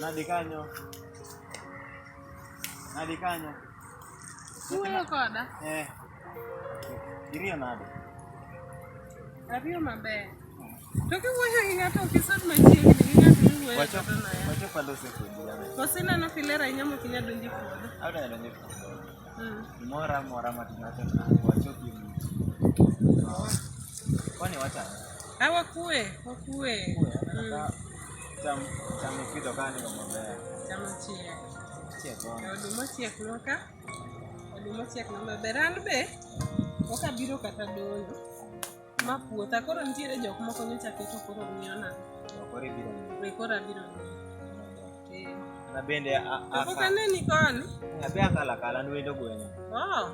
Nadi kanyo. Nadi kanyo. Uwuoyo koda? Eh. Iriyo nade? Ariyo maber. To kiwuoyo gi ng'ato ok isod machiegni gi ng'ato miwuoyo Wacho godo no ya. wacho palo sekodi. Waseneno kilera inyamo kinya donjo e puodho. Awda donjo. Mora mora matinata na wachoki mtu. Kwani wacha? Ah, wakue, wakue. Cham cham kido kani kwa mbaya. Cham chia. Chia kwa. Oduma chia kunoka. Oduma chia kunoka. Beran be. Oka biro kata doyo. Ma puotha koro nitiere jok moko nyocha keto koro miyo na. Koro ibiro miyo. Koro abiro miyo. Na bende a a. Kaka ne ni kon. Na be akala kala ni wendo gweng. Oh.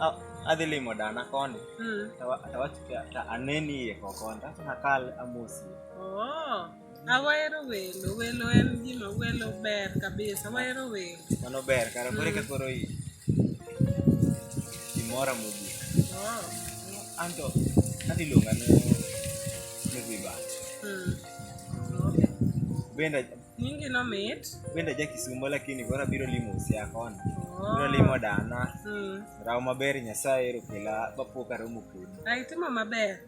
Ah, adhi limo dana koni mm. tawachika ta aneni ye kokonda nakal amosi oh. Awahero welo, welo en gima welo ber kabisa, awahero welo. Mano ber, kara kore ka koro i imora mogik. Oh. Anto, ati luonga no nigi bat. Mm. Okay. Benda nyingi no mit. Benda ja Kisumo lakini koro abiro limo usia kona. Oh. Biro limo dana. Mm. Raw maber Nyasaye ero kela bapo karomo kodi. Ai timo maber.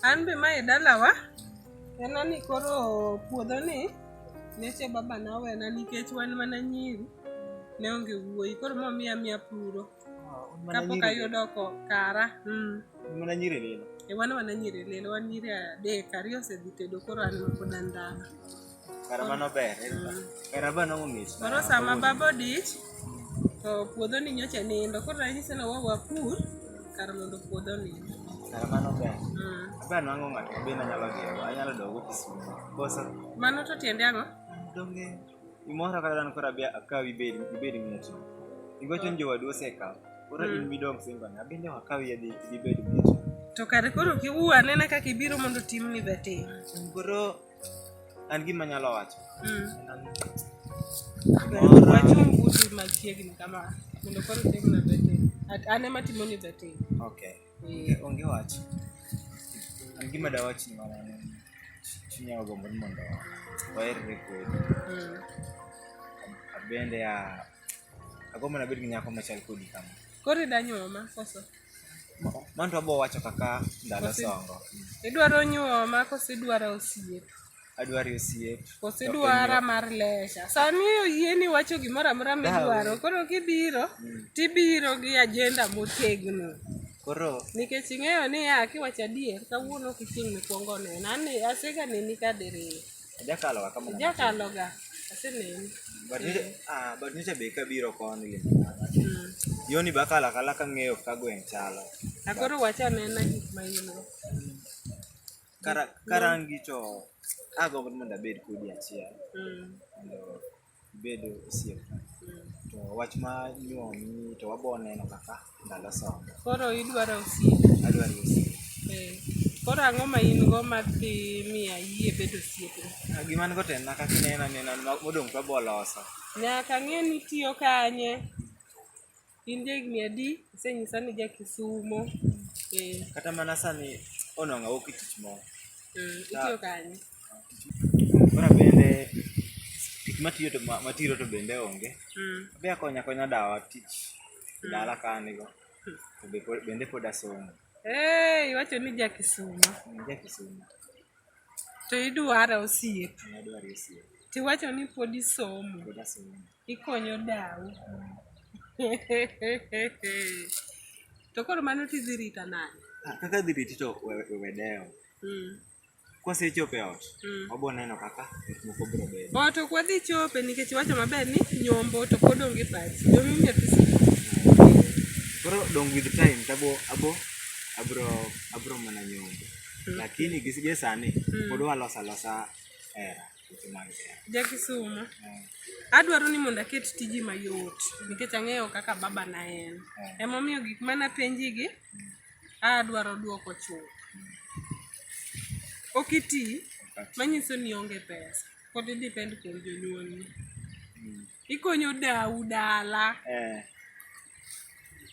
An be mae dalawa ena ni koro puodho ni neche baba na wena nikech wan mana nyiri ne onge wuoyi koro momiya miya puro ah, kapok ayudo ko kara mm. mana nyiri lilo e wan mana nyiri lilo wan nyiri adek ariyo osedhi tedo koro an mapod andala Kara mano ber. Kara mano ng'ich. Koro sama baba odich to puodho ni nyocha nindo. Koro ranyisi ni wawa pur kar mondo puodho nindo. Kara mano ber. Mm. Ber nwango ng'ato be nanyalo dhiyo. Anyalo dogo Kisumu. Koso. Mano to tiende ang'o? Donge. Imora kata dan kora be akawi bed bed ng'eto. Igocho oh. njowadu osekawo. Koro mm. in midong singo na. Bende wakawi yadhi ibed ng'eto. To kare koro kiwuo anena kaka ibiro mondo timni vetting. Koro an gima nyalo wacho mm. wachung buti machiegni kama mondo koro tem na bete an ema timo ni bete okay eh. onge wach an gima da wach ni mana ne chunya ogombo ni mondo waerre kodi mm. abende a agombo na bed gi nyako machal kodi kama koro idanyuoma koso Manto abo wacho kaka ndalo songo. Idwaro nyuoma koso idwaro osiep? Adwaro osiep. Koso idwara mar lesha? Sani oyieni wacho gimoro amora midwaro, koro kibiro mm. tibiro gi ajenda motegno. Koro nikech ing'eyo niya kiwacho adier kawuono ok ichieng' mikwongo nena, aseganeni kadiriyo. Ojakalo ga kamano. Ojakalo ga. Aseneni. But niche, ah, but niche be kabiro koni le. Mm. Yoni bakala kala ka ng'eyo ka gweng' chalo. Akoro wacha nena gik ma in go. Kara, karangi to agombo ni mondo abed kodi achiel. Mm. Mondo ibedo osiep to wach ma nyuomi to wabo neno kaka ndalo somo koro idwaro osiep adwaro osiep eh, koro ang'o ma in go ma dhi miya yie bedo osiepna Ah, gima an go to en na kaka inena nena modong' to wabo loso nyaka ng'e ni tiyo kanye In jahigni adi? Isenyisa ni ja Kisumo. Eh, Kata mana sani onwang'a wuok e tich moro. mm, itiyo kanye? Kora bende tich matiyo to ma- matiro to bende onge. Mm. Be akonya konya dawa tich dala ka an go. To be pod- bende pod asomo. Eh, iwacho ni ja Kisumo. An Ja Kisumo. To idwara osiep. Nadwaro osiep. Tiwacho ni pod isomo. Pod asomo. Ikonyo dau. To koro mano tidhi rita nade? Ah, kaka dhi riti to we dewo. Mm. Kwasechopo e ot, mm. wabiro neno kaka gik moko biro bedo. Ot ok wadhi chope nikech wacho maber ni nyombo to pod onge pachi. Nyombo imiyo pesa. Koro dong with time tabo abo abro abro mana nyombo. Mm. Lakini gisige sani mm. pod walosa losa era. Ja Kisumo. Adwaro ni mondo aket tiji mayot nikech ang'eyo kaka baba na en. Emomiyo gik mana penji gi adwaro duoko chuth. Ok iti manyiso ni onge pesa pod i depend kuom jonyuolni. Ikonyo dau dala. Eh.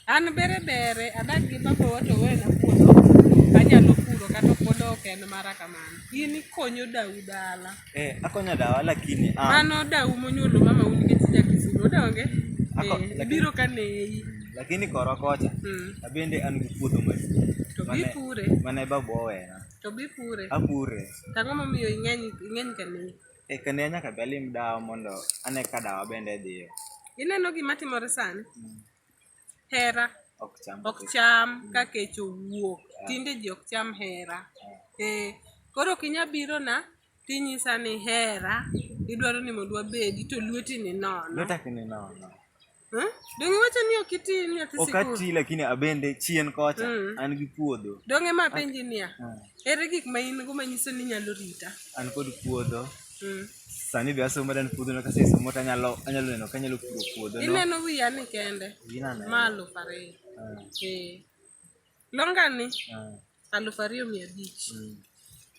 An bere bere adak gi baba wato wena puodho anyalo puro kata puodho ok en mara kamano. In ikonyo dau dala. Eh, akonya dawa lakini ah, Mano dau monyuolo mama un nikech ja Kisumo odonge. Ako- Eh, lakini- biro ka neyi. lakini korwa kocha Mm. abende an gi puodho maduong' To mane- bipure. mane babu owena To bipure. apure Tang'o momiyo ing'eny ing'eny ka neyi. Eka ne nyaka be alim dawa mondo ane ka dawa bende dhiyo. Ineno gima timore sani? Mm. Hera ok cham, ok cham mm. ka kech owuok. Yeah. Tinde ji ok cham hera. Yeah. Eh, koro kinya biro na tinyisa ni hera idwaro ni mondo wabedi to lweti ni nono. Lwetaki ni nono. Eh? Donge wacho ni ok iti nyathi sikul? Ok ati lakini abende chien kocha mm. an gi puodho. Donge ma penji niya. Ah. Ere gik ma in go manyiso ni nyalo rita? An kod puodho. Mm. Sani be asomo dan puodho no kase somo ta nyalo anyalo neno ka nyalo puro puodho no. Ineno wiya ni kende. Inano. Malo pare. Ah. Eh. Longa ni. Ah. Aluf ariyo mia abich. Mm.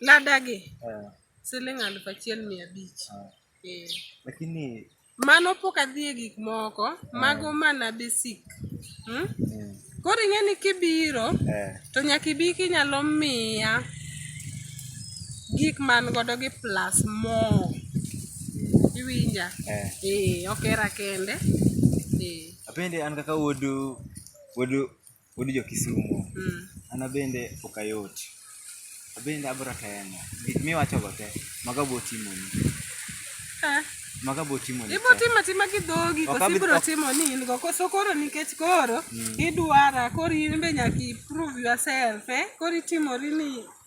Lada gi. Ah. Siling aluf achiel mia abich. Ah. Eh. Lakini Mano pok adhi e gik moko, mago mana basic. Hmm? Koro ing'e ni kibiro, Eh. to nyaka ibi kinyalo miya gik man godo gi plus more. Iwinja? Eh. Eh, ok era kende. Eh. Apende an kaka wuodu wuodu Wuod jo Kisumo. Mm. An abende ok ayot. Abende abro temo. Gik miwacho go te, maga bo timo ni. Eh. Maga bo timo ni. Ibo timo tima gi dhogi, koso ibro timo ni in go. Koso koro nikech koro, mm. idwara, koro in be nyaka prove yourself, eh? Koro itimori ni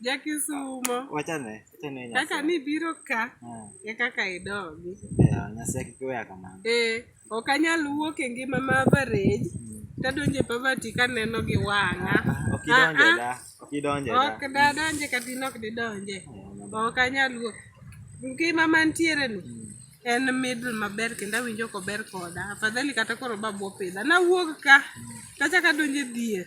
Jakisumo. Wachane, wachane Nyasaye. Kaka ni biro ka, ah. e kaka idogi. Yeah, Nyasaye kik weya kamano. Eh, ok anyal wuok e ngima ma average. Mm. Tadonje poverty kaneno gi wang'a. Ah, ah, ok idonje da. Ok idonje da. Ok da donje kata in ok didonje. Oh, ok anyal wuok. Ngima mantiere ni. Mm. en middle maber kendo awinjo kober koda afadhali kata koro babu opidha nawuog ka mm. kachaka donje dhier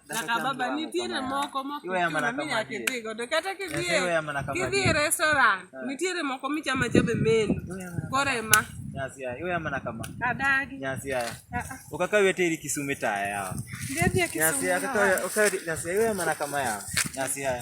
Nakababa nitiere moko mokidhigo to kata kidhie kidhi e restaurant ah. nitiere moko michama chabe menu kore ma adagi ah, ah. ukakawi hata ili Kisumu taya yao. Ndio ndio Kisumu. Nyasi yao, ukakawi nyasi yao, yeye maana kama yao. Nyasi yao.